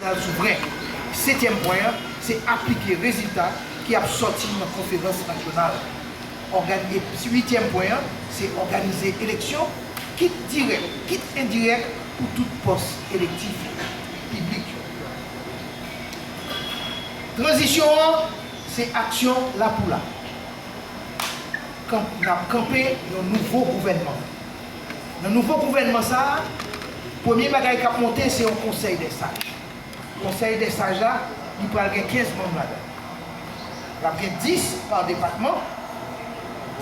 Pral sou brenk. Setyèm pwen an se aplike rezilta ki ap sòti nan konferans nasyonal. Ògani e pi uityèm pwen an se òganize eleksyon, kit dirèk, kit endirèk pou tout pòs elektif yo, piblik yo. Tranzisyon an se aksyon lapoula kan n ap kanpe yon nouvo gouvènman. Nan nouvo gouvènman sa a, premye bagay k ap monte se yon konsèy dè saj. Konsèy dè saj la, li pral gen 15 manm ladan l. L ap gen 10 pa depatman,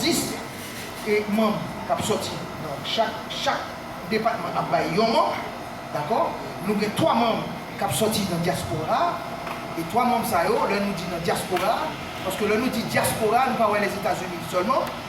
10 manm k ap soti nan chak, chak depatman ap bay yon manm, dakò. Nou gen 3 manm k ap soti nan dyaspora a, e 3 manm sa yo, lè nou di nan dyaspora a, paske lè nou di dyaspora a, nou pa wè Lèzetazini sèlman.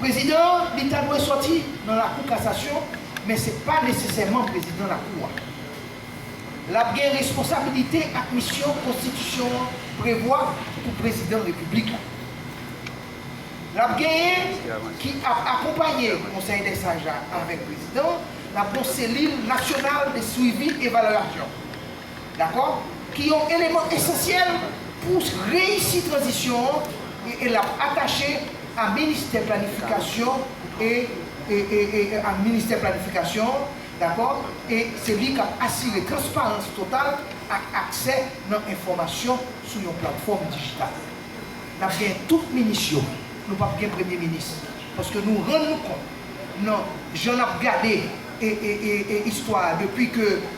Prezidan an, li ta dwe sòti nan lakou kasasyon, men se pa nesesèman prezidan lakou a. L ap gen responsabilite ak misyon konstitisyon an prevwa pou prezidan repiblik la. L ap genyen ki ap akonpaye konsèy dè saj la avèk prezidan an, l ap gon selil nasyonal de swivi evalyasyon. dakò, ki yon eleman esansyèl pou reyisi tranzisyon an e l ap atache a ministè planifikasyon e a ministè planifikasyon an, dakò, e se li k ap asire transparans total ak aksè nan enfòmasyon sou yon platfòm dijital. N ap gen tout minis yo, nou p ap gen premye minis, paske nou rann nou kont nan jan n ap gade istwa a depi ke.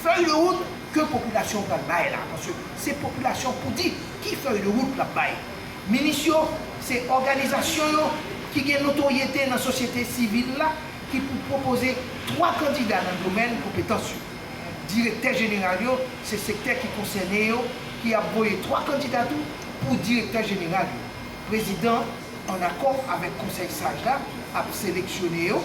Fèy de wout ke popilasyon pral bay la, paske se popilasyon pou di ki fèy de wout lap bay. Minis yo se òganizasyon yo ki gen notoryete nan sosyete sivil la ki pou pwopoze 3 kandida nan domèn konpetans yo. Direktè jeneral yo se sektè ki konsène yo ki ap voye 3 kandida tou pou direktè jeneral yo. Prezidan an akò avèk konsèy saj la ap seleksyone yo.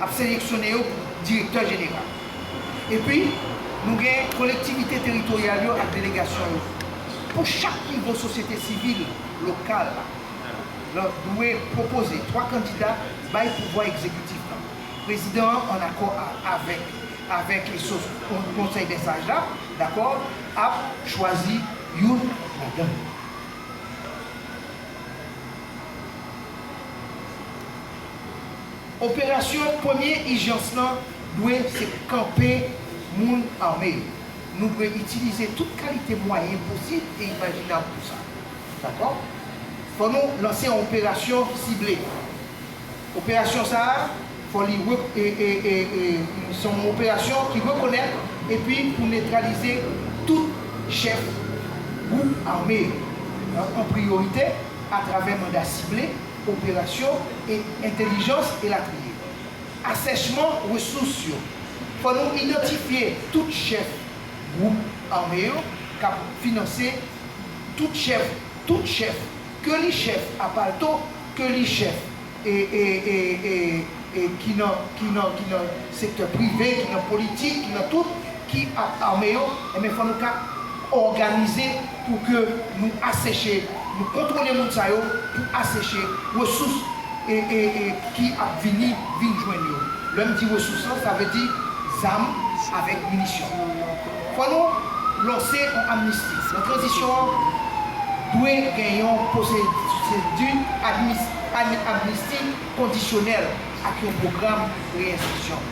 ap seleksyone yo pou direktè jeneral. Epi, nou gen kolektivite teritoryal yo ak delegasyon yo. Pou chak nivo sosyete sivil lokal la dwe pwopoze 3 kandida bay pouvwa egzekitif la. Prezidan an, an akò avèk avèk konsèy dè saj la, dakò, ap chwazi youn ladan yo. Operasyon premye ijans lan dwe se kanpe moun ame yo. Nou dwe itilize tout kalite mwayen posib e imajinab pou sa. Dakò? Fò nou lanse yon operasyon sible. Operasyon sa a, fò li re, e, e, e, e, se yon operasyon ki rekonèt epi pou netralize tout chèf gwoup ame yo, an priyorite atravè manda sible, operasyon, e, entelijans, elatriye. Asèchman resous yo, fò nou idantifye tout chèf gwoup ame yo k ap finanse tout chèf, tout chèf, Ke li chèf a palto, ke li chèf e e e e e ki nan ki nan ki nan sektè prive, ki nan politik, ki nan tout, ki ap ame yo, enben fò nou ka òganize pou ke nou aseche, nou kontwole moun sa yo pou aseche resous e e e ki ap vini vin jwenn yo. Lè m di resous lan, sa vle di zam avèk minisyon. Fò nou lanse yon amnisti. Nan tranzisyon an, dwe gen yon pwosedi amnisti kondisyonèl ak yon pwogram reyenskripsyon.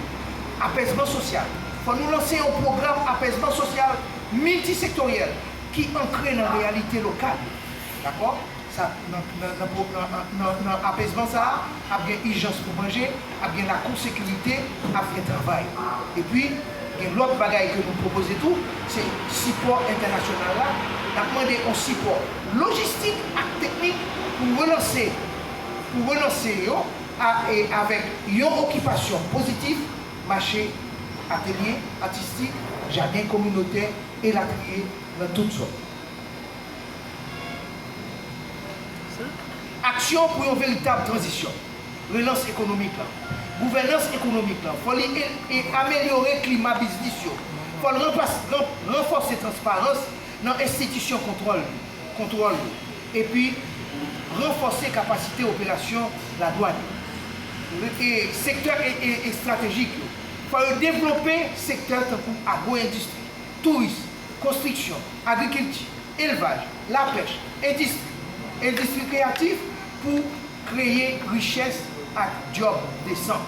Apèzman sosyal. Fò nou lanse yon pwogram apèzman sosyal miltisektoryèl ki ankre nan reyalite lokal yo. Dakò? Sa nan apezman sa a, ap gen ijans pou manje, ap gen lakou sekirite, ap gen travay. Epi, gen lòt bagay ke nou pwopoze tou, se sipò entènasyonal la. N ap mande yon sipò lojistik ak teknik pou relanse pou relanse yo a e avèk yon okipasyon pozitif, mache, atelye atistik, jaden kominotè, elatriye, nan tout zòn. Aksyon pou yon veritab tranzisyon, relans ekonomik lan. Gouvènans ekonomik lan, fò li amelyore klima biznis yo, fò l ranfòse transparans nan enstitisyon kontwòl yo, epi ranfòse kapasite operasyon ladwàn yo. Sektè estratejik yo, fò yo devlope sektè tankou agwo-endistri, touris, konstriksyon, agrikilti, elvaj, lapèch, endistri, endistri kreyatif pou kreye richès ak dyòb desan.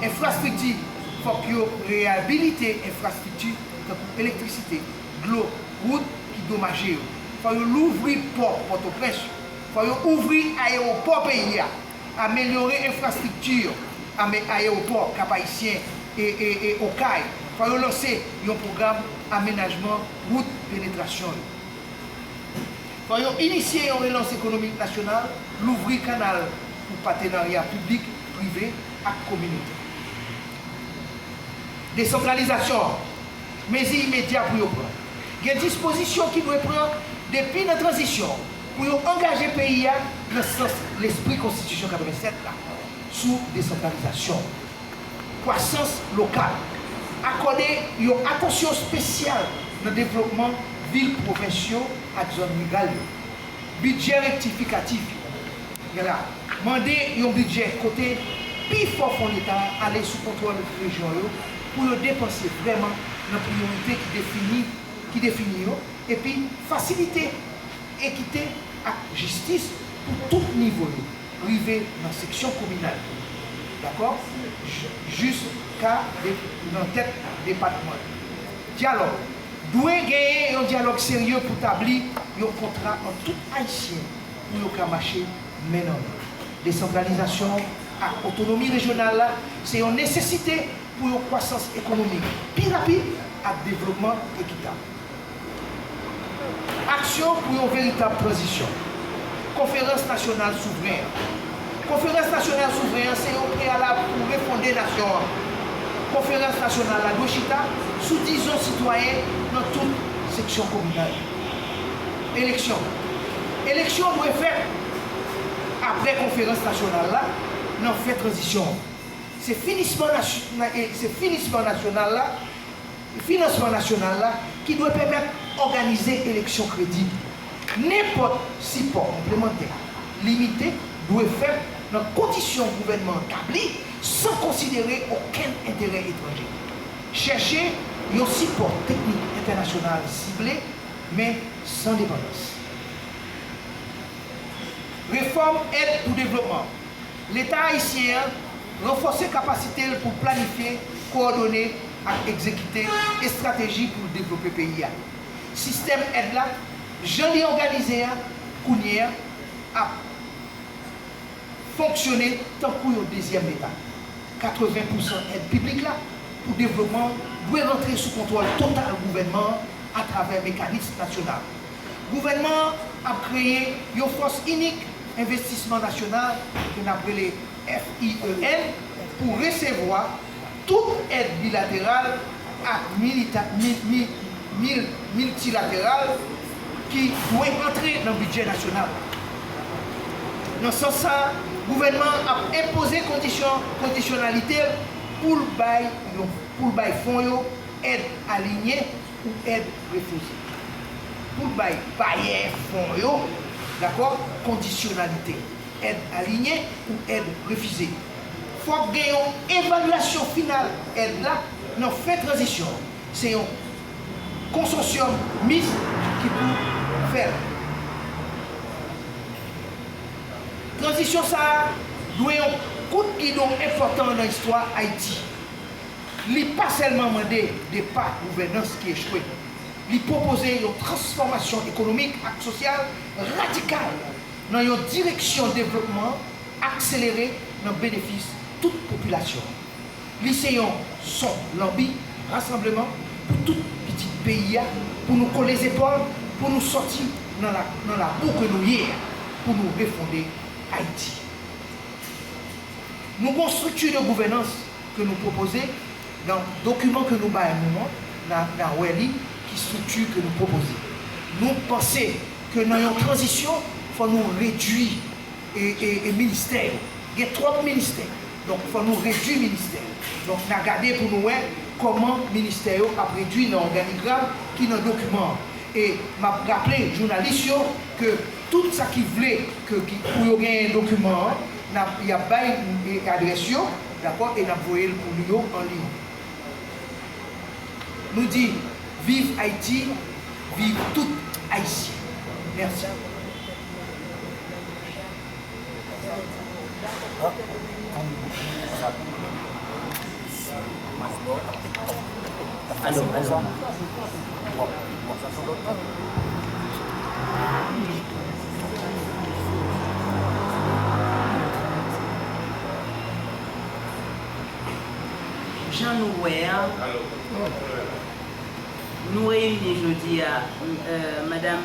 Enfrastrikti, Fòk yo reyabilite enfrastrikti tankou elektrisite, dlo, wout ki domaje yo. Fò yo louvri pò Pòtoprens yo. Fò yo ouvri ayewopò peyi a. amelyore enfrastrikti yo, ame ayewopò Kap Ayisyen e e Okay, fò yo lanse yon pwogram amenajman wout penetrasyon yo. Fò yo inisye yon relans ekonomik nasyonal, louvri kanal pou patenarya piblik, prive ak kominotè. Desantralizasyon an, mezi imedya pou yo pran. Gen dispozisyon ki dwe pran depi nan tranzisyon an. pou yo angaje peyi a nan sans lespri Konstitisyon 87 la sou desantralizasyon, kwasans lokal, akòde yon atansyon spesyal nan devlopman vil pwovens yo ak zòn riral yo, bidjè rektifikatif yo, men la mande yon bidjè kote pi fò fon leta ale sou kontwòl rejyon yo pou yo depanse vrèman nan priyorite ki defini ki defini yo epi fasilite Ekite ak jistis pou tout nivo yo, rive nan seksyon kominal yo, dakò, jis ka nan tèt depatman yo. Dyalòg, Dwe genyen yon dyalòg serye pou tabli yon kontra ant tout Ayisyen pou yo ka mache men nan men. Desantralizasyon ak otonomi rejyonal la se yon nesesite pou yon kwasans ekonomik pi rapid ak devlopman ekitab. Aksyon pou yon veritab tranzisyon. Konferans Nasyonal Souvren an Konferans Nasyonal Souvren an se yon preyalab pou refonde nasyon an. Konferans Nasyonal la dwe chita sou dizon sitwayen nan tout seksyon kominal. Eleksyon Eleksyon dwe fèt apre Konferans Nasyonal la nan fen tranzisyon an. Se finisman Se finisman Nasyonal la. Finansman nasyonal la ki dwe pèmèt òganize eleksyon kredib. Nenpòt sipò konplemantè limite dwe fèt nan kondisyon gouvènman an tabli san konsidere okenn enterè etranje. Chèche yon sipò teknik entènasyonal sible men san depandans. Refòm èd pou devlopman. Leta ayisyen an ranfòse kapasite l pou planifye, kowòdone ak egzekite estrateji pou l devlope peyi a. Sistèm èd la, jan li òganize a kounye a, ap fonksyone tankou yon dezyèm Leta. 80 pousan èd piblik la pou devlopman dwe rantre sou kontwòl total gouvènman an atravè mekanism nasyonal. Gouvènman an ap kreye yon Fòs Inik Envestisman Nasyonal, ke n ap rele FIEN, pou resevwa tout èd bilateral ak miltilateral ki dwe antre nan bidjè nasyonal la. Nan sans sa a, gouvènman an ap enpoze kondisyon kondisyonalite l pou l bay fon yo èd alinye, pou èd refijye, pou l bay bayè fon yo dakò kondisyonalite èd aliyen ou èd refize. Fòk gen yon evalyasyon final èd la nan fen tranzisyon an. Se yon konsosyòm mis ki pou fè l. Tranzisyon sa a dwe yon kout gidon enpòtan nan istwa Ayiti. Li pa sèlman mande depa gouvènans ki echwe, li pwopoze yon transfòmasyon ekonomik ak sosyal radikal nan yon direksyon devlopman akselere nan benefis tout popilasyon an. Li se yon son lanbi rasanbleman pou tout pitit peyi a pou nou kole zepòl pou nou sòti nan labou ke nou ye a, pou nou refonde Ayiti. Nou gon strikti de gouvènans. ke nou pwopoze nan dokiman ke nou bay nou an, na wè li ki strikti ke nou pwopoze. Nou panse ke nan yon tranzisyon fò nou redui ministè yo. Gen twòp ministè. Donk fò nou redui ministè yo. Donk na gade pou nou wè kòman ministè yo ap redui nan òganigram ki nan dokiman an. E map raple jounalis yo ke tout sa ki vle ke pou yo genyen dokiman an, Nap yap bay adrès yo dakò e nap voyel pou nou yo an liy. Nou di viv Haïti viv tout Haïtien merci. Sa pale twop. Jan nou wè a, nou reyini jodi a, Madam.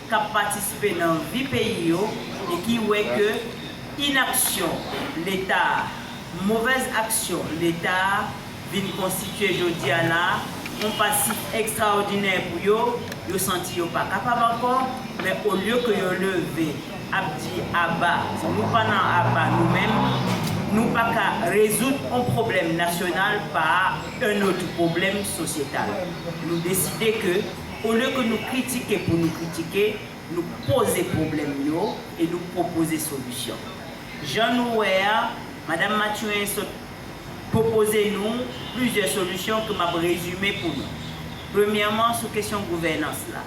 k ap patisipe nan vi peyi yo e ki wè ke inaksyon Leta a, movèz aksyon Leta a vin konstitye jodi a la yon pasif ekstraòdinè pou yo, yo santi yo pa kapab ankò, men olye ke yo leve ap di aba, di nou pa nan aba nou menm, nou pa ka rezoud yon pwoblèm nasyonal pa yon notr pwoblèm sosyetal. Nou deside ke. Olye ke nou kritike pou nou kritike, nou poze pwoblèm yo e nou pwopoze solisyon. Jan nou wè a, Madam Mathurin sot pwopoze nou plizyè solisyon ke m ap rezime pou nou. Premyèman, sou kesyon gouvènans la.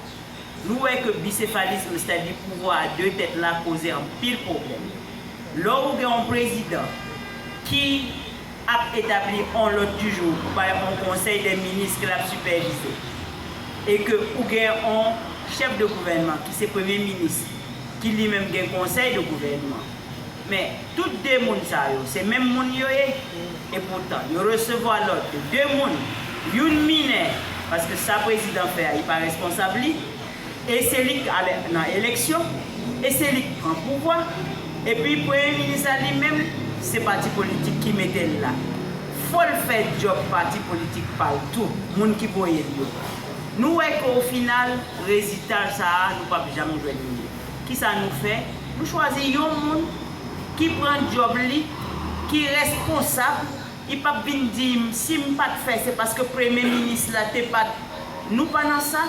Nou wè ke bisefalism, sètadi pouvwa a de tèt la, koze anpil pwoblèm. Lè ou gen yon prezidan ki. ap etabli on lòd di jou pou bay on konsèy dè minis ke lap sipèvize e ke ou gen on chèf de gouvènman ki se premye minis ki li menm gen konsèy de gouvènman men tout 2 moun sa yo se menm moun yo ye e poutan yo resevwa lòd de 2 moun youn minè paske sa prezidan fè a li pa responsab li. E se li k ale nan eleksyon, e se li k pran pouvwa, epi premye minis la li menm se pati politik ki mete l la. Fò l fè djòb pati politik pa l tou, moun ki voye l yo. Nou wè ke o final, rezita sa a nou pap janm jwenn li. Ki sa nou fè? Nou chwazi yon moun ki pran djòb li, ki responsab, li pap vin di m si m pat fè se paske premye minis la te pat, nou pa nan sa.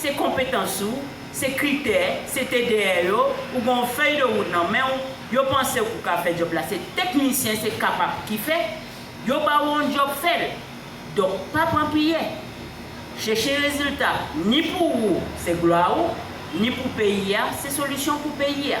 Se konpetans ou, se kritè, se TDR yo, ou gen yon fèy de wout nan men ou, yo panse ou ka fè djòb la, se teknisyen, se kapab ki fè, yo ba ou yon djòb fè l. Donk pa pran piyè. Chèche rezilta, ni pou ou se glwa ou, ni pou peyi a, se solisyon pou peyi a.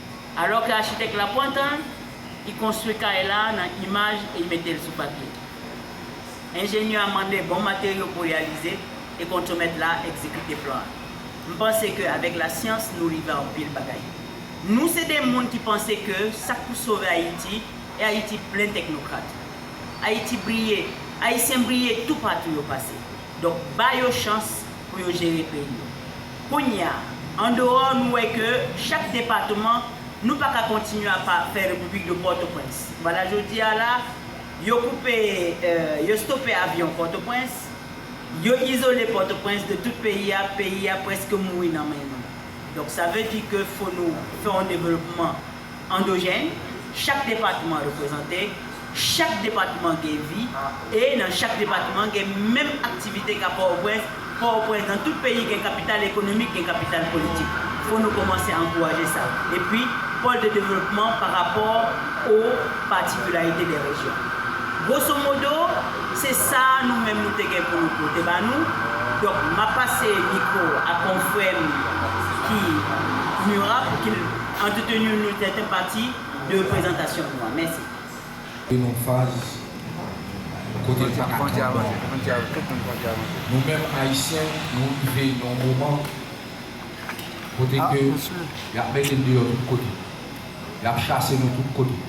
Alò ke achitèk la pran tan l, li konstwi kay la nan imaj e li mete l sou papye. Enjenyè a mande bon materyo pou reyalize e kontremèt la egzekite plan an. M panse ke avèk lasyans nou rive anpil bagay. Nou se de moun ki panse ke sa k pou sove Ayiti e Ayiti plen teknokrat. Ayiti briye, Ayisyen briye toupatou yo pase. Donk ba yo chans pou yo jere peyi yo. Kounya, andeyò nou wè ke chak depatman, nou pa ka kontinye ap fè Repiblik de Pòtoprens. Bada jodi a la, yo koupe, yo stope avyon Pòtoprens, yo izole Pòtoprens de tout peyi a, peyi a prèske mouri nan men nou. Donk sa vle di ke fo nou fè yon developman. Andojèn, Chak depatman reprezante, chak depatman gen vi, e nan chak depatman gen menm aktivite ka Pòtoprens, Pòtoprens nan tout peyi gen kapital ekonomik, gen kapital politik. Fò nou kòmanse ankouraje sa. Epi, pòl de devlopman pa rapò o patikilarite de rejyon. Gwosomodo, se sa a nou menm nou te gen pou nou pote ba nou. Donk, m ap pase mikwo a konfrè m ki Murat pou ki l Antretenu nou sèten pati de prezantasyon nou an. Mèsi. Antre nan faz kote l paka tann non. Nou menm Ayisyen nou rive nan yon moman kote ke yap mete n deyò tout kote. Yap chase nou tout kote.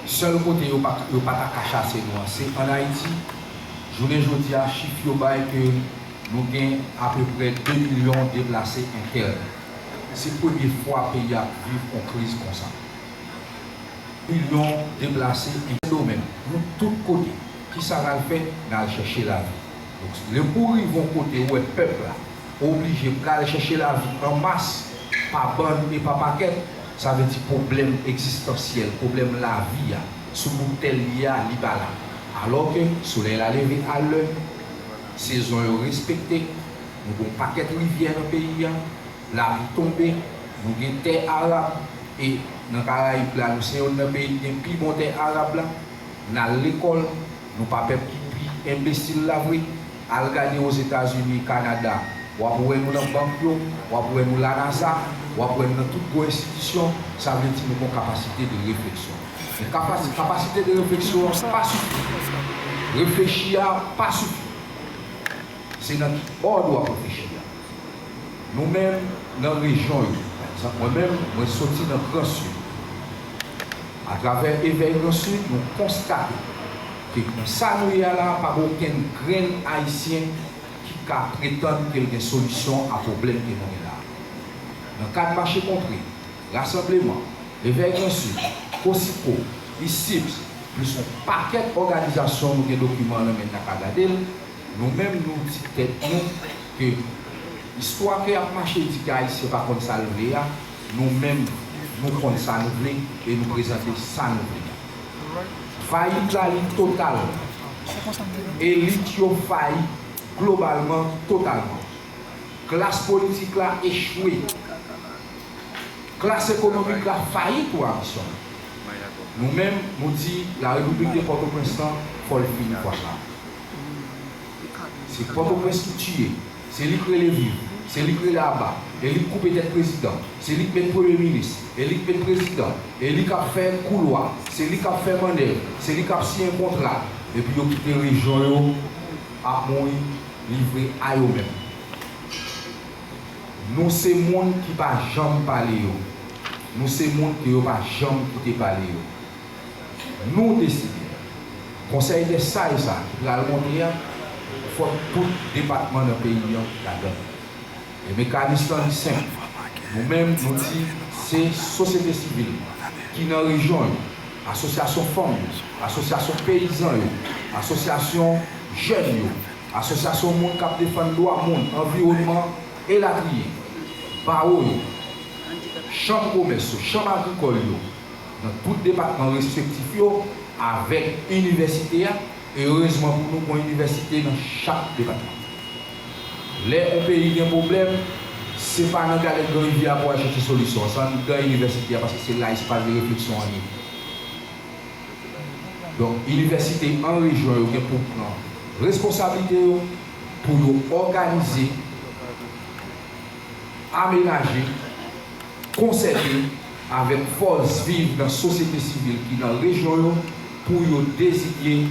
Sèl kote yo yo pa ta ka chase nou an se an Ayiti. Jounen jodi a chif yo bay ke nou gen apeprè 2 milyon deplase entèn. Se premye fwa peyi a ap viv on kriz konsa. Milyon deplase en Sendomeng, nou tout kote. Kisa n al fè? N al chèche lavi. Donk, lè ou rive on kote ou wè pèp la oblije pral chèche lavi an mas, pa bann e pa pakèt, sa vle di pwoblèm egzistansyèl, pwoblèm lavi a, sou bout tè l ye a, li pa la. Alò ke solèy la leve a lè, sezon yo respekte. Nou gon pakèt rivyè nan peyi a, lapli tonbe, nou gen tè arab e nan karayib la nou se yonn nan peyi ki gen pi bon tè arab la, nal lekòl, nou pa pèp ki pi enbesil la vre, al gade ozetazini, kanada, wap wè nou nan bank yo, wap wè nou la nasa, wap wè nou nan tout gwo enstitisyon, sa vle di nou gon kapasite de refleksyon. Men kapasite de refleksyon an pa sifi, reflechi a pa sifi. Se nan ki òd w ap reflechi a? Nou menm nan rejyon yo. Pa egzanp, mwen menm, mwen soti nan Gran Sid. Atravè Evèy Gran Sid, nou konstate ke nan sa nou ye a la a, pa gen okenn grenn Ayisyen ki ka pretann ke l gen solisyon a pwoblèm ke nou gen la a. Nan kad mache kontre, rasanbleman, Evèy Gran Sid, Kosiko, ISIPS, plis yon pakèt òganizasyon nou gen dokiman nan men n a ka gade l, Nou menm nou di tèt nou ke istwa ke yap mache di ke ayisyen pa konn sal vle a, nou menm nou konn sa nou vle e nou prezante sa nou vle a. Fayit la li total. Elit yo fayi globalman, totalman. Klas politik la echwe. Klas ekonomik la fayi tou a misyon an. Nou menm nou di la repiblik de Pòtoprens lan fòl fini fwa sa. Se pòtoprens ki tiye, se li k rele viv, se li k rele aba, e li k koupe tèt prezidan, se li k met premye minis, e li k met prezidan, e li k ap fè kou lwa, se li k ap fè mannèv, se li k ap siyen kontra, epi yo kite rejyon yo ap mouri livre a yo menm. Nou se moun ki pa janm pale yo, nou se moun ke yo pa janm kite pale yo. Nou deside, Konsèy dè Saj sa a ki pral monte a, fòk tout depatman nan peyi an ladan l. E mekanis lan li senp. Nou menm nou di se sosyete sivil ki nan rejyon yo, asosyasyon fanm yo, asosyasyon peyizan yo, asosyasyon jèn yo, asosyasyon moun k ap defann dwa moun, anviwònman, elatriye, bawo yo, chanm komès yo, chanm agrikòl yo, nan tout depatman respektif yo avèk inivèsite a, e erezman pou nou gon inivèsite nan chak depatman. Lè on peyi gen pwoblèm, se pa nan galèt gran rivyè a pou al chèche solisyon an, se anndan inivèsite a paske se la espay de refleksyon an ye. Donk inivèsite an rejyon yo gen pou pran responsablite yo pou yo òganize, amenaje, konsève, avèk fòs viv nan sosyete sivil ki nan rejyon yo pou yo dezinye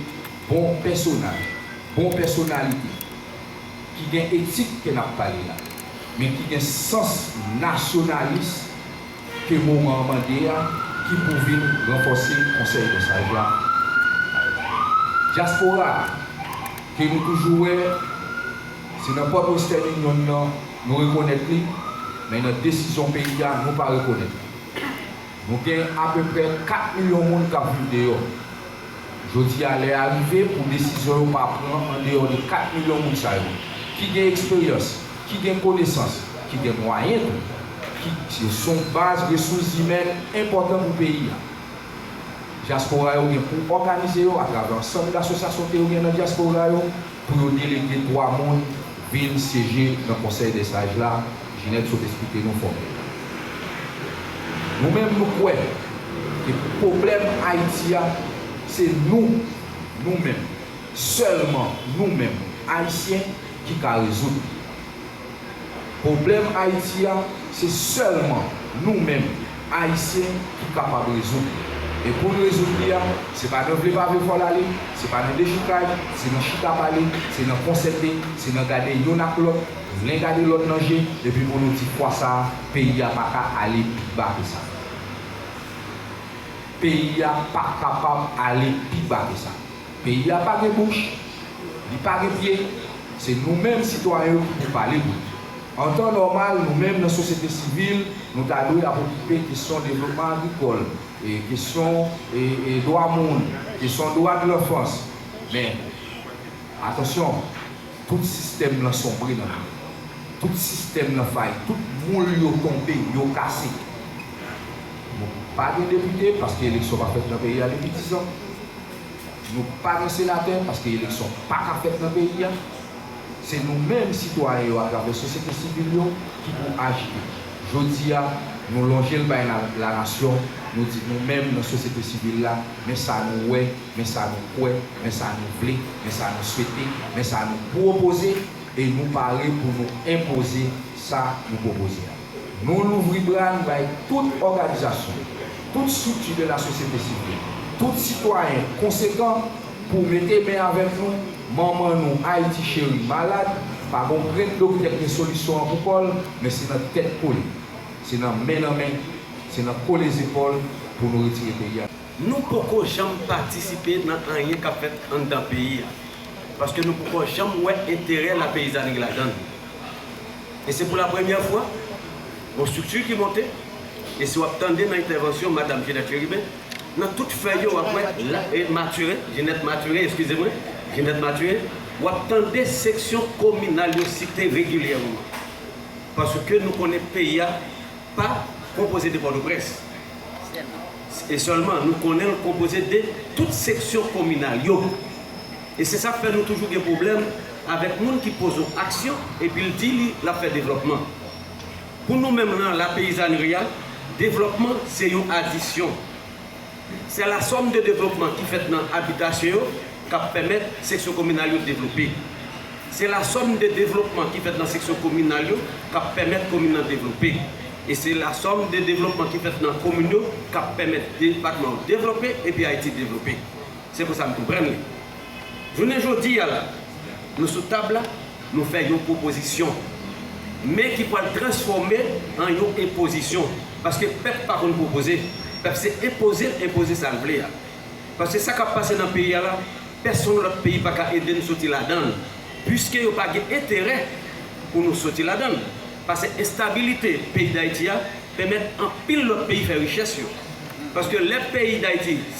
bon pèsonaj, bon pèsonalite ki gen etik ke n ap pale la, men ki gen sans nasyonalis ke moman an mande a ki pou vin ranfòse Konsèy dè Saj la. Dyaspora a ke nou toujou wè se nan pòt Western Union nan, Nou rekonèt li, men nan desizyon peyi a nou pa rekonèt li. Nou gen apeprè 4 milyon moun k ap viv deyò. Jodi a lè a rive pou desizyon yo pa pran andeyò de 4 milyon moun sa yo, ki gen eksperyans, ki gen konesans, ki gen mwayen tou, ki yo s on baz resous zimèn enpòtan pou peyi a. Dyaspora yo gen pou òganize yo atravè ansanm dasosyasyon ke yo gen nan dyaspora yo. pou yo delege 3 moun vin syeje nan Konsèy dè Saj la, Ginette sot esplike nou fòmil la. Nou menm nou kwè ke pwoblèm Ayiti a, se nou, nou menm, sèlman nou menm, Ayisyen, ki ka rezoud li. Pwoblèm Ayiti a, se sèlman nou menm Ayisyen ki kapab rezoud li. E pou n rezoud li a, se pa nan vle pa vle fò l ale, se pa nan dechoukay, se nan chita pale, se nan konsète, se nan gade youn ak lòt, len gade lòt nan je, epi pou nou di fwa sa a, peyi a pa ka ale pi ba ke sa. Peyi a pa kapab ale pi ba ke sa. Peyi a pa gen bouch, li pa gen pye, se nou menm sitwayen yo ki pou pale pou li. An tan nòmal, nou menm nan sosyete sivil, nou ta dwe ap okipe kesyon devlopman agrikòl, kesyon dwa moun, kesyon dwa de lanfans. Men, atansyon, tout sistèm lan sonbre nan peyi a. Tout sistèm lan fayi, tout moul yo tonbe, yo kase. Nou pa gen depite, paske eleksyon pa fèt nan peyi a depi 10 an. Nou pa gen senatè paske eleksyon pa ka fèt nan peyi a. Se nou menm sitwayen yo atravè sosyete sivil yo ki pou ajite. Jodi a, nou lonje l bay lanasyon, nou di nou menm nan sosyete sivil la, men sa nou wè, men sa nou kwè, men sa nou vle, men sa nou swete, men sa nou pwopoze, e nou pare pou nou enpoze sa nou pwopoze a. Nou louvri bra n bay tout òganizasyon, tout estrikti de lasosyete sivil, tout sitwayen konsekan pou mete men avèk nou, manman nou Ayiti cheri malad, pa gon prèt doktè k gen solisyon an pou kò l, men se nan tèt kole, se nan men nan men, se nan kole zepòl pou nou retire peyi a. Nou poko janm patisipe nan anyen k ap fèt anndan peyi a, paske nou poko janm wè enterè lapeyizanri ladan l. E se pou la premyè fwa, yon strikti ki monte, e si w ap tande nan entèvansyon madam Ginette Chérubin, nan tout fèy yo w ap wè la e Mathurin, Ginette Mathurin, eskize mwen, Ginette Mathurin, w ap tande seksyon kominal yo site regilyèman. Paske nou konnen peyi a pa konpoze de Pòtoprens. Sèlman. E sèlman. Nou konnen l konpoze de tout seksyon kominal yo. E se sak fè nou toujou gen pwoblèm avèk moun ki poze w aksyon epi l di li l ap fè devlòpman. Pou nou menm lan la peyizanri a, devlòpman se yon adisyon. Se la sòm de devlòpman ki fèt nan abitasyon yo k ap pèmèt seksyon kominal yo devlope. Se la sòm de devlòpman ki fèt nan seksyon kominal yo k ap pèmèt komin nan devlope. E se la sòm de devlòpman ki fèt nan komin yo k ap pèmèt depatman yo devlope epi Ayiti devlope. Se konsa m konprann li. Jounen jodi a la, nou sou tab la, nou fè yon pwopozisyon, men ki pwal transfòme an yon enpozisyon, paske pèp pa konn pwopoze, pèp se enpoze l enpoze sa l vle a. Paske sa k ap pase nan peyi a la, pèsonn lòt peyi pa ka ede n soti ladan l, puiske yo pa gen enterè pou nou soti ladan l, pase enstabilite peyi Dayiti a pèmèt anpil lòt peyi fè richès yo. Paske lè peyi Dayiti.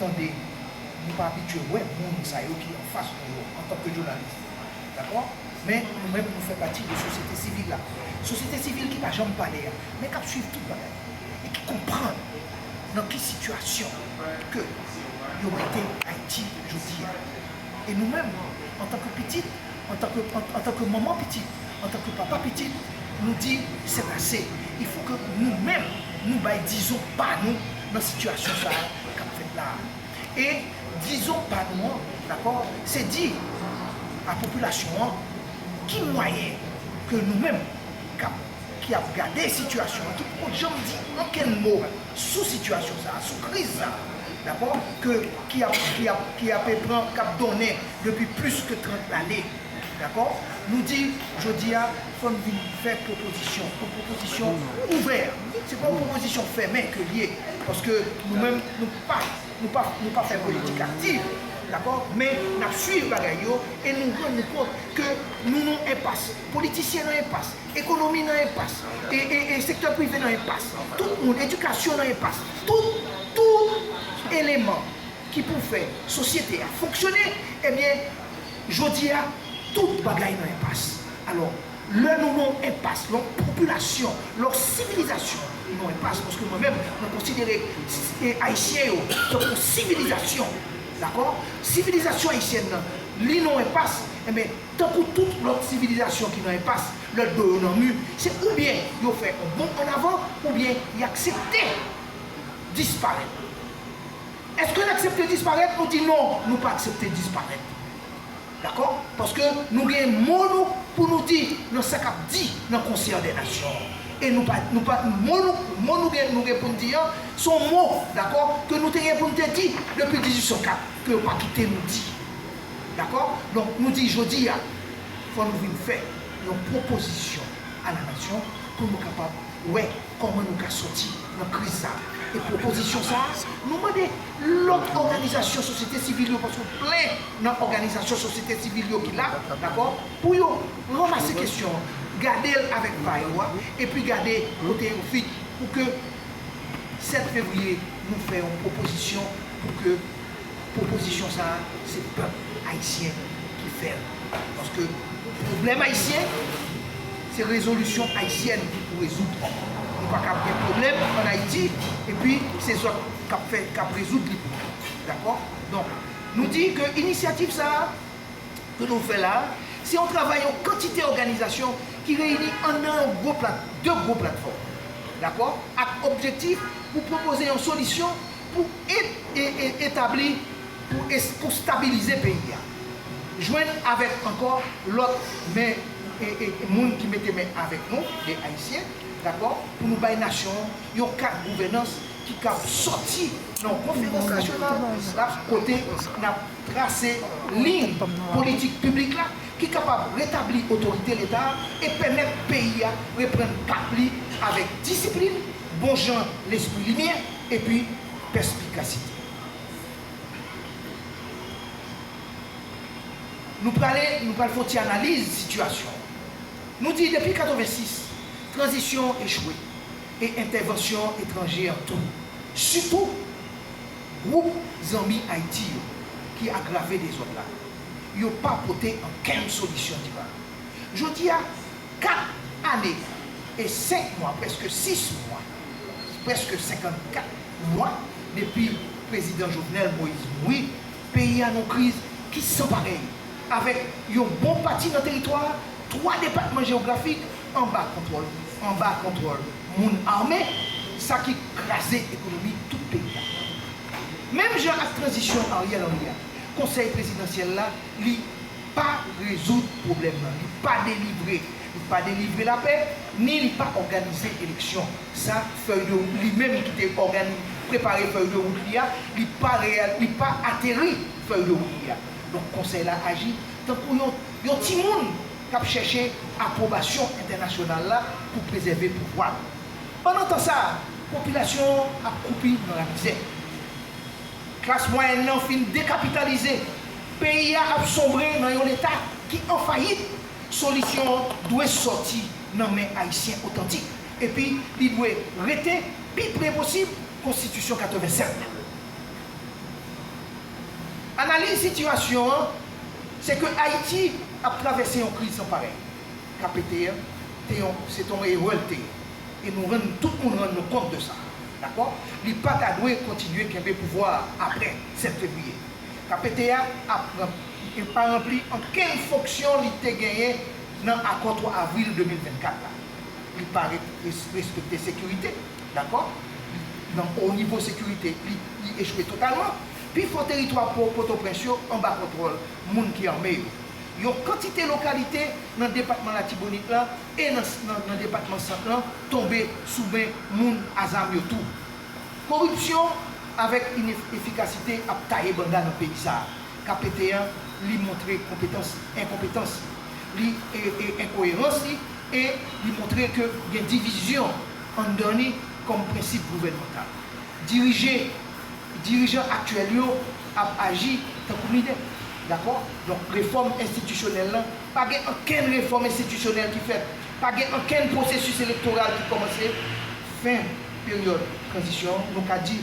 Tande, nou pa abitye wè moun sa yo ki anfas nou yo antanke jounalis. Dakò? Men, nou menm nou fè pati de sosyete sivil la. Sosyete sivil ki pa janm pale a, men k ap suiv tout bagay e ki konprann nan ki sitiyasyon ke yo mete Ayiti jodi a. E nou menm, antanke pitit. Antanke manman pitit, antanke papa pitit, nou di sèt ase. Il fo ke nou menm nou bay dizon pa nou nan sitiyasyon sa a k ap fèt la a. E dizon pa nou an, dakò, se di a popilasyon an ki mwayen ke nou menm k ap ki ap gade sitiyasyon an, ki poko janm di ankenn mo. sou sitiyasyon sa a, sou kriz sa a, dakò, ke, ki ap, ki ap, ki ape pran, k ap donnen depi plis ke 30 lane, dakò, nou di jodi a fò n vin fè pwopozisyon, yon pwopozisyon ouvè, se pa yon pwopozisyon fèmen ke l ye, paske nou menm nou pa, nou pa, nou pa fè politik aktiv, dakò, men n ap suiv bagay yo e nou rann nou kont ke nou nan enpas, politisyen nan enpas. Ekonomi nan enpas. E sektè prive nan enpas. Tout moun. Edikasyon nan enpas. Tout, tout eleman ki pou fè sosyete a fonksyone, ebyen jodi a tout bagay nan enpas. Alò, lè nou nan yon enpas, lè yon popilasyon, lè yon sivilizasyon nan enpas, paske mwen menm mwen konsidere Ayisyen yo tankou yon sivilizasyon, dakò? Sivilizasyon ayisyèn nan li nan yon enpas, enben, Tankou tout lòt sivilizasyon ki nan enpas, lè do yo nan mi, se oubyen yo fè on bond an avan oubyen y aksepte disparèt. Èske n aksepte disparèt? Nou di non, nou pa aksepte disparèt. Dakò? Paske nou gen mo nou pou nou di nan sa k ap di nan Konsè dè Nasyon an. E nou pa, nou pa, mo nou, mo nou gen, nou gen pou n di an, s on mo, dakò, ke nou te gen pou n te di depi 1804, ke yo pa kite nou di. Dakò? Donk, nou di jodi a, fò nou vin fè yon pwopozisyon a la nasyon pou nou kapab wè kòman nou ka soti nan kriz sa a. E pwopozisyon sa a, nou mande lòt òganizasyon sosyete sivil yo, paske plen nan òganizasyon sosyete sivil yo ki la, dakò, pou yo ranmase kesyon an, gade l avèk va yo a, epi gade kote yo fit pou ke 7 fevriye nou fè yon pwopozisyon pou ke. Pwopozisyon sa a se pèp ayisyen ki fè l, paske pwoblèm ayisyen se rezolisyon ayisyèn ki pou rezoud. Nou pa ka ap gen pwoblèm ann Ayiti epi se zòt k ap fè, k ap rezoud li pou nou. Dakò? Donk, nou di ke inisyativ sa a ke nou fè la a, se yon travay yon kantite òganizasyon ki reyini anndan yon gwo plat, de gwo platfòm, dakò, ak objektif pou pwopoze yon solisyon, Pou etabli, pou stabilize peyi a. Jwenn avèk ankò lòt men moun ki mete men avèk nou, de Ayisyen, dakò, pou nou bay nasyon an yon kad gouvènans ki kab sòti nan yon konferans nasyonal la kote n ap trase liy politik piblik la ki kapab retabli otorite Leta a e pèmèt peyi a reprann kap li avèk disiplin, bon jan lespri limyè. epi pèspikasite. Nou prale, nou pral fè yon ti analiz sitiyasyon an. Nou di depi 86, tranzisyon an echwe e entèvansyon etranje an tou, sitou gwoup Zanmi Ayiti yo ki agrave dezòd la, yo pa pote ankenn solisyon dirab. Jodi a. 4 ane e 5 mwa, prèske 6 mwa, prèske 54 mwa depi Prezidan Jovenel Moïse mouri, peyi a nan yon kriz ki san parèy, avèk yon bon pati nan teritwa a, 3 depatman jewografik, anba kontwòl anba kontwòl moun ame, sa ki kraze ekonomi tout peyi a. Menm jan ak tranzisyon Ariel Henry a, Konsèy Prezidansyèl la li. pa rezoud pwoblèm nan, li pa delivre, li pa delivre lapè, ni li pa òganize eleksyon. Sa fèy de wout li menm ki te ògani, prepare fèy de wout li a, li pa reyal, li pa ateri fèy de wout li a. Donk Konsèy la aji tankou yon, yon timoun k ap chèche apwobasyon entènasyonal la pou prezève pouvwa l. Pandan tan sa a, popilasyon an ap kwoupi nan lamizè. Klas mwayèn nan fin dekapitalize, peyi a ap sonbre nan yon leta ki an fayit, solisyon an dwe sòti nan men Ayisyen otantik epi li dwe rete pi pre posib konstitisyon 87 la. Analiz sitiyasyon an se ke Ayiti ap travèse yon kriz san parèy. KPT an te yon se te yon erè l te ye. e nou rann tout moun rann nou kont de sa. Dakò? Li pa ta dwe kontinye kenbe pouvwa a apre 7 fevriye. KPT a ap pran. E pa ranpli ankenn fonksyon li te genyen nan akò 3 avril 2024 la. Li pa ret respekte sekirite. Dakò? Li, nan o nivo sekirite, li, li echwe totalman. Pi fò teritwa po, Potoprens yo anba kontwòl moun ki ame yo. Yon kantite lokalite nan depatman Latibonit la, e nan depatman Sant lan tonbe sou men moun a zam yo tou. Koripsyon avèk inefikasite ap taye banda nan peyi sa a. KPT an li montre konpetans li, enkonpetans li, li e enkoyerans li e li montre ke gen divizyon anndan li kòm prensip gouvènmantal. Dirije, dirijan aktyèl yo ap aji tankou minè. Dakò? Donk refòm enstitisyonèl lan Pa gen ankenn refòm enstitisyonèl ki fèt, pa gen ankenn pwosesis elektoral ki kòmanse. Fen peryòd tranzisyon an, nou ka di,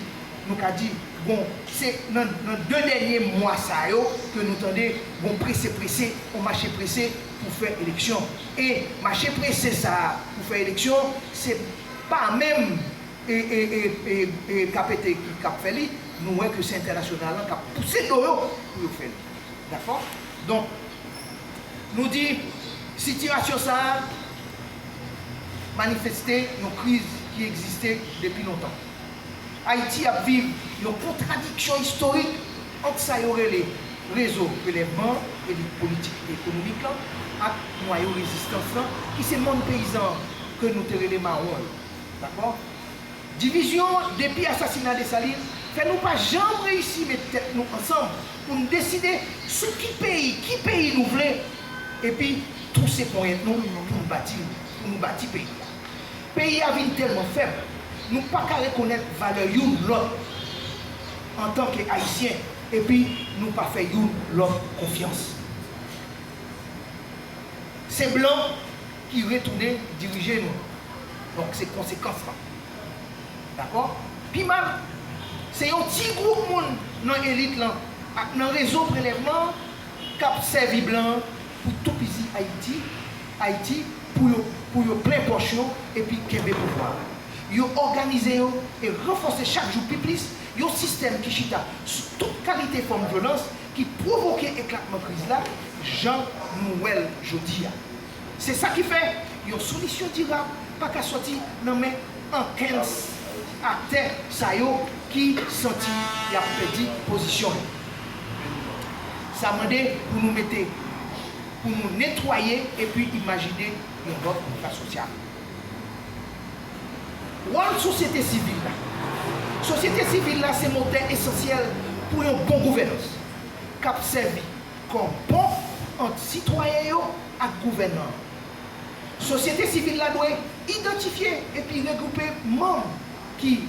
nou ka di, bon, se nan, nan de dènye mwa sa yo ke nou tande gon prese prese, on mache prese pou fè eleksyon. E mache prese sa a pou fè eleksyon, se pa menm e, e, e, e, e, KPT ki, k ap fè li, nou wè ke se entènasyonal lan k ap pouse do yo pou yo fè li. Dakò? Donk, nou di sitiyasyon sa a manifeste yon kriz ki egziste depi lontan. Ayiti ap viv yon kontradiksyon istorik ant sa yo rele rezo relèvman an, elit politik e ekonomik lan, ak nwayo rezistans lan, ki se monn peyizan an, ke nou te rele mawon yo. Dakò? Divizyon depi asasina Desalin fè nou pa janm reyisi met tèt nou ansanm pou n deside sou ki peyi, ki peyi nou vle epi tou se ponyèt nou pou n bati l, pou nou bati peyi a. Peyi a vin tèlman fèb, nou pa ka rekonèt valè youn lòt antan ke Ayisyen epi nou pa fè youn lòt konfyans. Se blan. ki retounen dirije nou donk se konsekans lan dakò pi mal se yon ti gwoup moun nan elit lan ak nan rezo prelèvman an kap sèvi blan an pou toupizi ayiti ayiti pou yo pou yo plen pòch yo epi kenbe pouvwa a yo òganize yo e ranfòse chak jou pi plis yon sistèm ki chita sou tout kalite fòm vyolans ki pwovoke eklatman kriz la jan nou wèl jodi a. Se sa ki fè, yon solisyon dirab pa ka sòti nan men ankenn aktè sa yo ki santi y ap pèdi pozisyon yo. Sa mande pou nou mete, pou nou netwaye epi imajine yon lòt kontra sosyal. Wòl sosyete sivil la Sosyete sivil la se motè esansyèl pou yon bon gouvènans k ap sèvi kòm pon ant sitwayen yo ak gouvènan an. Sosyete sivil la dwe idantifye epi regwoupe manm ki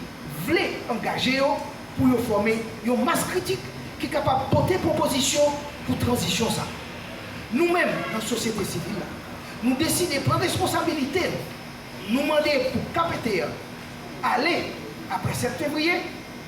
vle angaje yo pou yo fòme yon mas kritik ki kapab pote pwopozisyon pou tranzisyon sa a. Nou menm nan sosyete sivil la, nou deside pran responsabilite nou, nou mande pou KPT an ale apre 7 fevriye,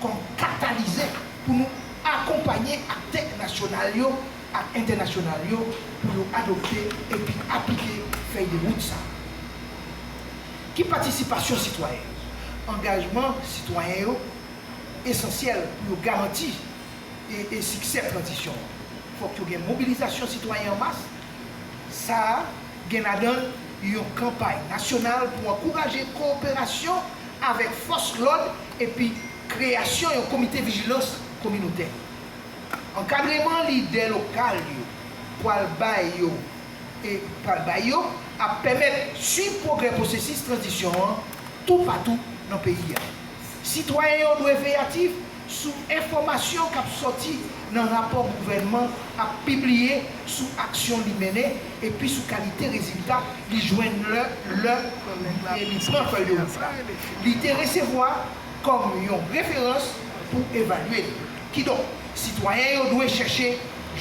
kòm katalizè pou nou akonpanye aktè nasyonal yo ak entènasyonal yo pou yo adopte epi aplike fèy de wout sa a. Ki patisipasyon sitwayen yo? Angajman sitwayen yo esansyèl pou yo garanti e siksè tranzisyon an. Fòk yo gen mobilizasyon sitwayen an mas, sa a gen ladan l yon kanpay nasyonal pou ankouraje kowoperasyon avèk fòs lòd epi kreyasyon yon komite vijilans kominotè. Ankadreman lidè lokal yo pral bay yo e pral bay yo ap pèmèt suiv pwogrè pwosesis tranzisyon an toupatou nan peyi a. Sitwayen yo dwe veyatif Sou enfòmasyon k ap sòti nan rapò gouvènman ap pibliye sou aksyon li mennen epi sou kalite rezilta li jwenn lè li pran fèy de wout la, li te resevwa kòm yon referans pou evalye li. Kidonk, sitwayen yo dwe chèche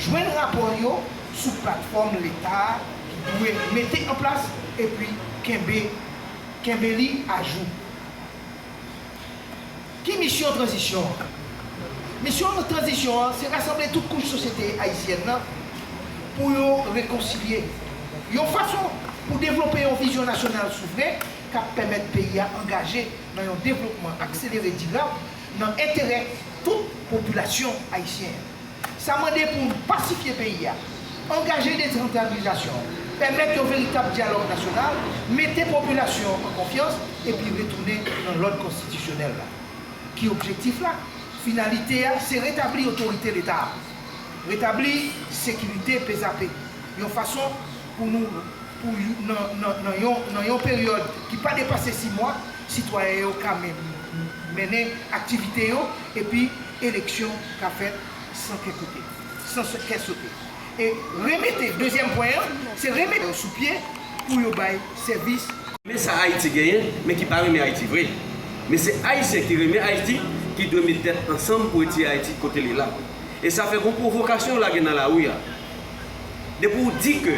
jwenn rapò yo sou platfòm Leta a ki dwe mete anplas epi kenbe li ajou. Ki misyon tranzisyon an? Misyon tranzisyon an se rasanble tout kouch sosyete ayisyèn nan pou yo rekonsilye, yon fason pou devlope yon vizyon nasyonal souvren k ap pèmèt peyi a angaje nan yon devlopman akselere dirab nan enterè tout popilasyon ayisyen an. Sa mande pou n pasifye peyi a, angaje desantralizasyon, pèmèt yon veritab dyalòg nasyonal, mete popilasyon an an konfyans epi retounen nan lòd konstitisyonèl la. Ki objektif la? Finalite a se retabli otorite Leta a, retabli sekirite pezape yon fason pou nou pou nan yon peryòd ki pa depase si mwa, sitwayen yo ka mennen aktivite yo epi eleksyon ka fèt san kè kote, san kè sote. E remete, dezyèm pwen an, se remete yo sou pye pou yo bay sèvis. Men sa Ayiti genyen, men ki pa renmen Ayiti vre. Men se Ayisyen ki renmen Ayiti ki dwe met tèt ansanm pou retire Ayiti kote li la. E sa fè gon pwovokasyon ou lage nan lari a. Depi ou di ke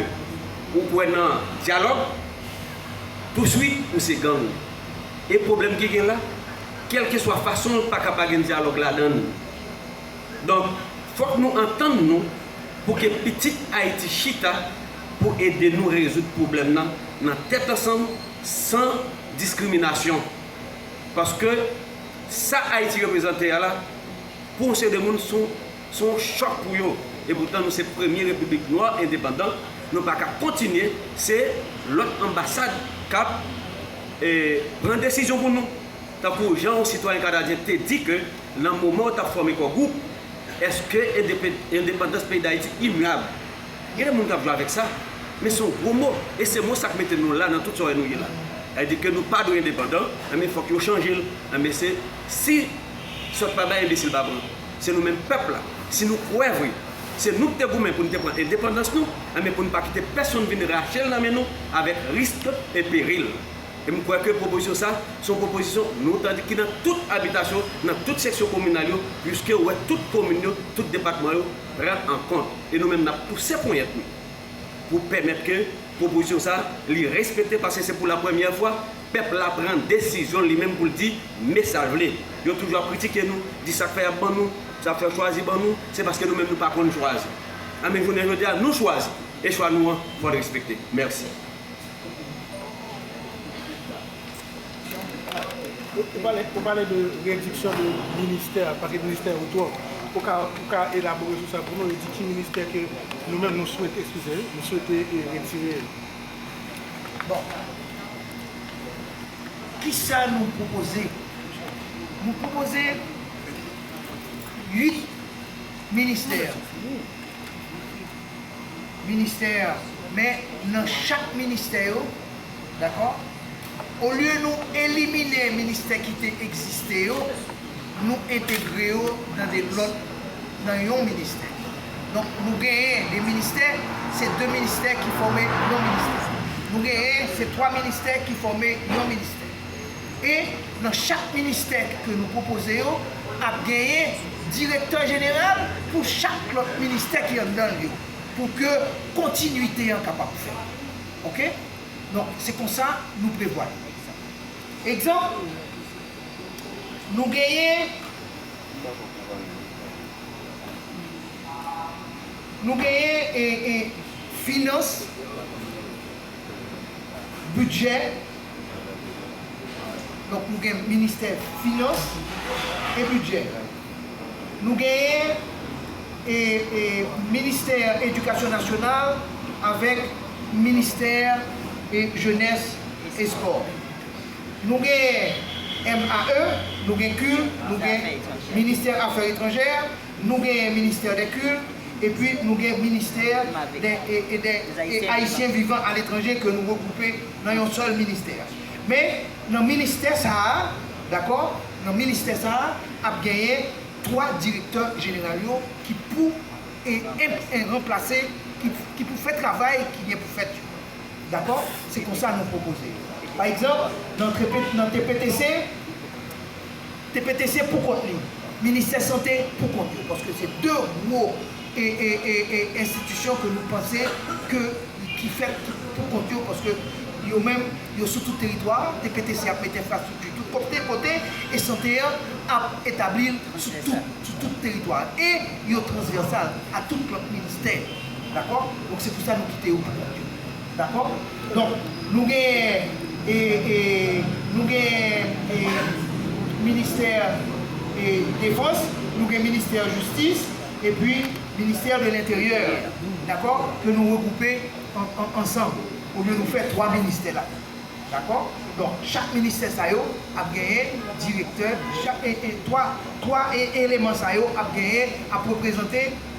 ou kwè nan dyalòg, touswit ou se gang. E pwoblèm ki gen la? kèlkeswa fason l pa ka pa gen dyalòg ladan l. Donk, fòk nou antann nou pou ke pitit Ayiti chita pou ede nou rezoud pwoblèm nan nan tèt ansanm san diskriminasyon. Paske sa Ayiti reprezante a la, pou yon seri de moun, s on. Se yon chòk pou yo. Epoutan nou se premye repiblik nwa endepandan, nou pa ka kontinye se lòt anbasad k ap pran desizyon pou nou. Tankou jan yon sitwayen kanadyen te di ke nan moman yo t ap fòme Kò Gwoup, Eske endepandans peyi Dayiti imyab? Gen de moun k ap jwe avèk sa, men se yon gwo mo, e se mo sa k mete nou la nan tout sa w wè nou ye la. Sa vle di ke nou pa dwe endepandan, enben fòk yo chanje l. Enben se si sòt pa bay enbesil pa pran. Se nou menm pèp la, si nou kwè vre se nou ki te goumen pou n te pran endepandans nou, enben pou n pa kite pèsonn vin rache l nan men nou avèk risk e peril. E m kwè ke pwopozisyon sa a se yon pwopozisyon nou tande ki nan tout abitasyon, nan tout seksyon kominal yo, piske ou wè tout komin yo, tout depatman yo pran an kont. E nou menm n ap pouse ponyèt nou pou pèmèt ke pwopozisyon sa a li respekte paske se pou lapremyè fwa Pèp la pran desizyon l li menm pou l di me sa l vle. Yo toujou ap kritike nou, di sa k fè y ap ban nou, sa k fè yo chwazi ban nou, se paske nou menm nou pa konn chwazi. Anben jounen jodi a nou chwazi e chwa nou an fò l respekte. Mèsi. Ou pale de rediksyon de ministè, pase ministè yo twòp. Ou ka elabore sou sa pou nou e di ki ministè ke nou menm nou swete, eskize, nou swete retire yo? Bon. Kisa nou pwopoze? Nou pwopoze 8 ministè. Ministè, men nan chak ministè yo, dakò, olye nou elimine ministè ki te egziste yo, nou entegre yo nan de lòt nan yon ministè. Donk nou genyen de ministè, se de ministè ki fòme yon ministè. Nou genyen se twa ministè ki fòme yon ministè. E nan chak ministè ke nou pwopoze yo, ap genyen direktè jeneral pou chak lòt ministè ki anndan l yo, pou ke kontinuite an kapab fèt. Ok? Donk se konsa nou prevwa l. Egzanp. Nou genyen Nou genyen e e finans bidjè donk nou gen ministè finans e bidjè nou genyen e e ministè edikasyon nasyonal avèk ministè e jenès e espò. Nou gen MAE, nou gen kil, nou gen ministè afè etranjè, nou gen ministè dè kil, epi nou gen ministè dè e dè e ayisyen vivan aletranje ke nou regwoupe nan yon sèl ministè. Men nan ministè sa a, dakò, nan ministè sa a ap genyen 3 direktè jeneral yo ki pou e enp e ranplase, ki pou fè travay ki gen pou fèt yo. Dakò? Se konsa nou pwopoze. Pa egzanp, nan trepe, nan TPTC, TPTC pou kont li, Ministè Sante pou kont yo, paske se 2 gwo e, e, e, e enstitisyon ke nou panse ke ki fèt ki pou kont yo, paske yo menm yo sou tout teritwa a, TPTC ap mete enfrastrikti tout kopte, kote, e sante an ap etabli l sou tout, sou tout teritwa a, e yo transvèsal a tout lòt ministè. Dakò? Donk se pou sa nou kite yo pran nòt yo. Dakò? Donk, nou gen e, e, nou gen e, ministè e, defans, nou gen ministè jistis, epi ministè de lenteryè. Dakò? Ke nou regwoupe an, an, ansanm. Olye nou fè twa ministè la. Dakò? Donk, chak ministè sa yo ap genyen direktè, chak e, e, twa, twa e, eleman sa yo ap genyen, ap reprezante.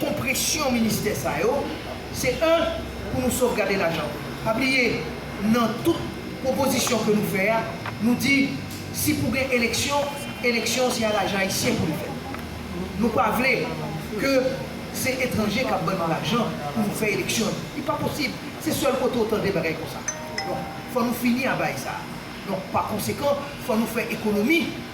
konpresyon ministè sa yo, se 1 pou nou sovgade lajan. Pa bliye nan tout pwopozisyon ke nou fè a, nou di si pou gen eleksyon, eleksyon se a lajan ayisyen pou li fèt. Nou pa vle ke se etranje kap ban nou lajan pou nou fè eleksyon yo. Li pa posib. Se sèl kote ou tande bagay konsa. Donk fò nou fini a baay sa a. Donk pa konsekan fò nou fè ekonomi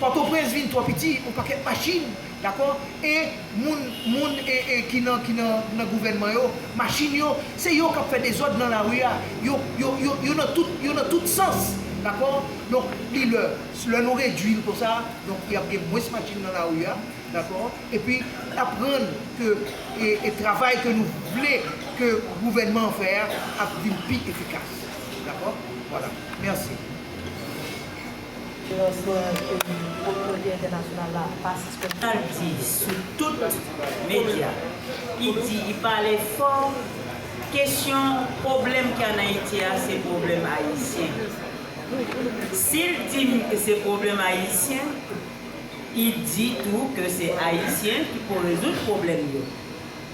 Pòtoprens vin twò piti on pakèt machin dakò e moun moun ki nan ki nan nan gouvènman yo machin yo se yo kap fè dezòd nan lari a yo yo yo yo nan tout yo nan tout sans dakò donk li lè lè nou redwil konsa donk yap gen mwens machin nan lari a dakò epi nap rann ke e e travay ke nou vle ke gouvènman an fè a ap vin pi efikas dakò vwala mèsi. Transparans peyi kominote entènasyonal la pa sispann fè yon ti bouch sou tout medya ki di ki pale fò kesyon pwoblèm ki an Ayiti a se pwoblèm ayisyen. Si l di m ke se pwoblèm ayisyen, li di tou ke se ayisyen ki pou rezoud pwoblèm yo.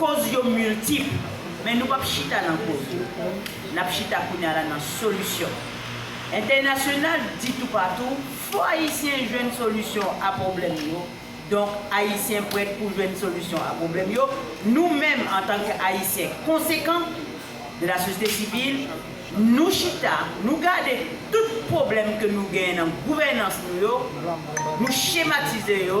Koz yo miltip, men nou pap chita nan koz yo. Nap chita kounya la nan solisyon. Entènasyonal di toupatou, fò Ayisyen jwenn solisyon a pwoblèm yo, donk Ayisyen prèt pou jwenn solisyon a pwoblèm yo, nou menm antanke Ayisyen konsekan, de la sosyete sivil, nou chita, nou gade tout pwoblèm ke nou genyen nan gouvènans nou yo, nou chematize yo,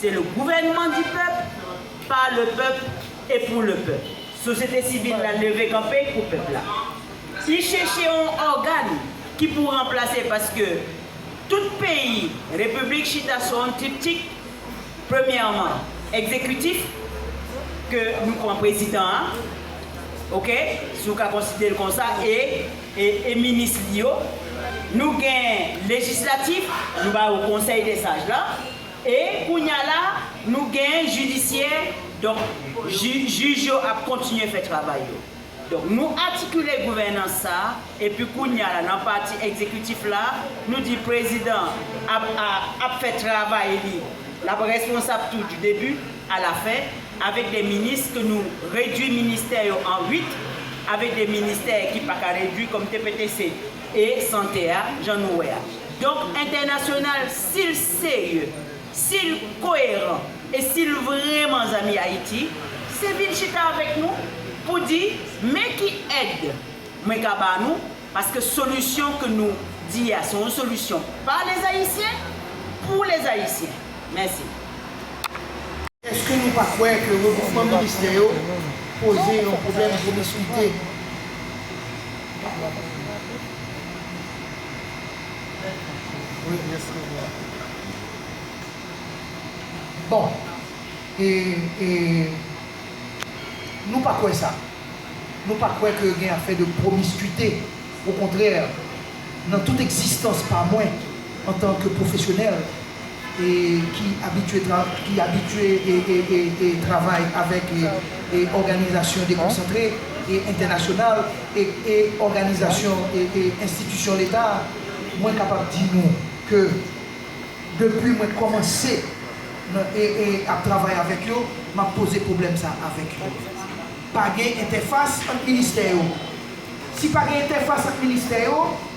Se le gouvenman di pèp, pa le pèp e pou le pèp. Sosyete sivil la leve kanpe pou pèp la. Li cheche yon ògan ki pou ranplase paske tout peyi repiblik chita sou yon triptik, premyèman egzekitif ke nou pran prezidan an, ok, si w ka konsidere l konsa, e minis li yo. Nou gen lejislatif, nou ba yo konsèy de saj la. E kounya la nou gen jidisyè donk jij yo ap kontinye fè travay yo. Donk nou atikile gouvènans sa epi kounya la nan pati egzekitif la nou di prezidan ap ap fè travay li l ap responsab tou di debi a la fen avèk de minis ke nou redwi ministè yo an 8 avèk de ministè ki pa ka redwi kòm tptc. e sante a jan nou wè a. Donk entènasyonal si l serye, si l koyeran e si l vreman zanmi Ayiti, se vin chita avèk nou pou di men ki èd mwen ka ba nou paske solisyon ke nou di a se yon solisyon pa Lezayisyen, pou Lezayisyen. Mèsi. Eske nou pa kwè ke regwoupman ministè yo poze yon pwoblèm pwomiskwite? Bon e e nou pa kwè sa. Nou pa kwè ke gen afè de promiscuité. Okontrè, nan tout egzistans pa mwen antan ke pwofesyonèl, ki abitye travay avèk òganizasyon dekonsantre e entènasyonal e òganizasyon e enstitisyon leta, mwen kapab di nou ke depi mwen kòmanse ap travay avèk yo, m ap poze pwoblèm sa a avèk yo. Pa gen entèfas ant ministè yo. Si pa gen entèfas ant ministè yo,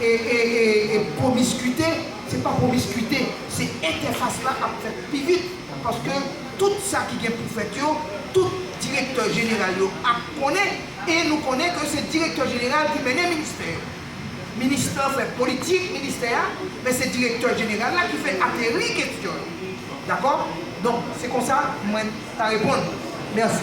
E e e e pwomiskite se pa pwomiskite, se entèfas la ap fèt pi vit paske tout sa ki gen pou fèt yo tout direktè jeneral yo ap konnen e nou konnen ke se direktè jeneral ki mennen ministè yo. Minis lan fè politik ministè a men se direktè jeneral la ki fè ateri kesyon yo. Dakò? Donk se konsa mwen ta reponn. Mèsi.